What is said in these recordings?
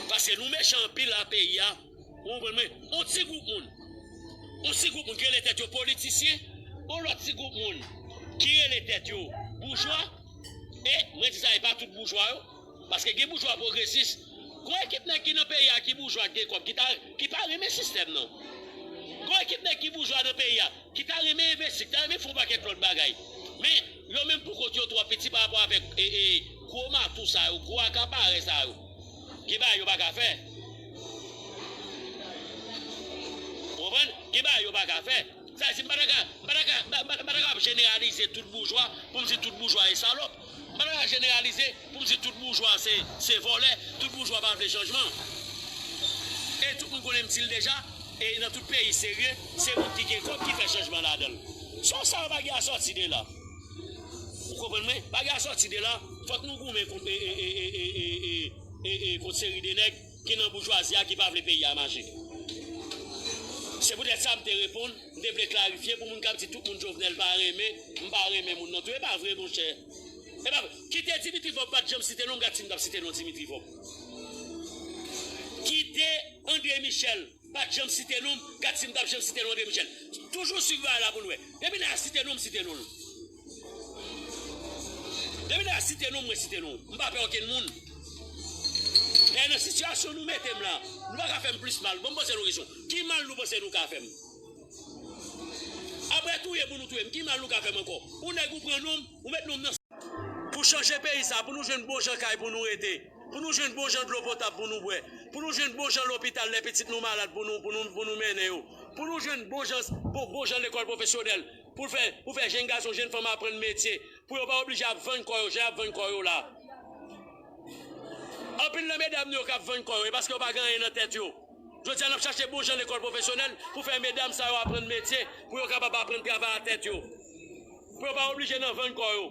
Pase nou mechan anpil la peyi a Ou konprann mwen On ti gwoup moun On ti gwoup moun ki rele tèt yo politisyen On lòt ti gwoup moun ki rele tèt yo boujwa E mwen di sa e pa tout boujwa yo Paske gen boujwa pwogresis. Gon ekip nèg ki nan peyi a ki boujwa ki gen kòb ki ta ki pa renmen sistèm nan. Gon ekip nèg ki boujwa nan peyi a ki ta renmen envesti, ki ta renmen fè yon pakèt lòt bagay. Men, yo menm pou kont yo twò piti pa rapò avèk e e gwo matou sa yo, gwo akaparè sa yo. Gen bagay yo pa ka fè. Ou konprann? Gen bagay yo pa ka fè. Sa vle di m pa ta ka m pa ta ka m pa ta kapab jeneralize tout boujwa pou m di tout boujwa e salòp. Mwen pa ka jeneralize pou m di tout boujwa se vòlè, tout boujwa pa vle chanjman. E tout moun konnen m di l deja, e nan tout peyi serye, se moun ki gen kòb ki fè chanjman ladan l. Son sa yo pa gen asòti de la. Ou konprann mwen? Pa gen asòti de la. Fòk nou goumen kont seri de nèg. ki nan boujwazi a ki pa vle peyi a mache. Se poutèt sa m te reponn, m te vle klarifye pou moun k ap di tout moun Jovenel pa renmen, m pa renmen moun non tou. E pa vre monchè. E pa vre. Kite Dimitri Vorbe pa t janm site non, m gad si m t ap site non Dimitri Vorbe. Kite Andre Michel. M pat janm site non m, gad si m pap janm site non André Michel. Toujou swiv bagay la pou n wè. Depi lè a site non m site non l. Depi lè a site non m mwen site non l. M pa pè okenn moun. Dayè nan sitiyasyon nou mete m lan, nou pa ka fè m plis mal. Bon m poze nou kesyon, ki mal nou panse nou ka fè m? Aprè touye pou nou touye m, ki mal nou ka fè m ankò? Ou nèg ou pran non m, ou met non m nan. Pou chanje peyi sa, pou nou jwenn bon jan kay pou nou rete. Pou nou jwenn bon jan dlo potab pou nou bwè. Pou nou jwenn bon jan lopital lè pitit nou malad pou nou, pou nou, pou nou mennen yo. Pou nou jwenn bon jan, bon, bon jan lekòl pwofesyonèl pou fè, pou fè jenn gason, jenn fanm aprann metye. Pou yo pa oblije ap vann kò yo jan y ap vann kò yo la. Anpil nan medam nou yo k ap vann kò yo e paske yo pa gen anyen nan tèt yo. Jodi a n ap chache bon jan lekòl pwofesyonèl pou fè medam sa yo aprann metye pou yo kapab aprann travay a tèt yo. Pou yo pa oblije nan vann kò yo.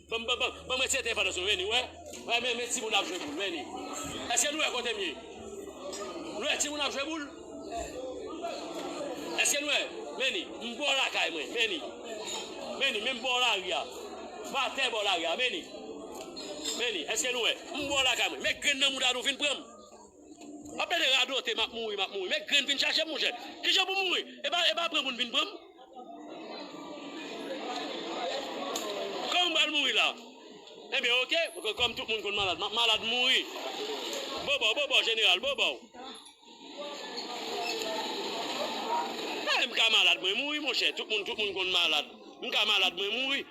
Banm banm banm banm retire depandans nou vini wè wè men men timoun ap jwe boul vini eske nou wè kotem ye nou wè timoun ap jwe boul eske nou wè vini m bò lakay mwen vini vini menm bò lari a m atè bò lari a vini vini eske nou wè m bò lakay mwen men grenn nan mouda nou vin pranm. Wap plede radote map mouri map mouri men grenn vin chache m monchè kijan pou m mouri epa epa pran moun vin pran m kòman m pral mouri la enben ok kòm tout moun konn malad map malad m mouri bobò bobò jeneral bobò eh m ka malad mwen mouri monchè tout moun tout moun konn malad m ka malad mwen mouri.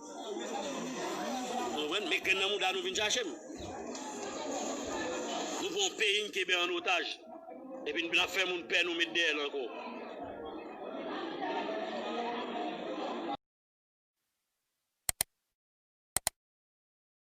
Nou konprann? Men grenn nan mouda nou vin chache m. Nou pran yon peyi n kenbe an otaj. Epi n ap fè moun pè nou met dèyè n ankò.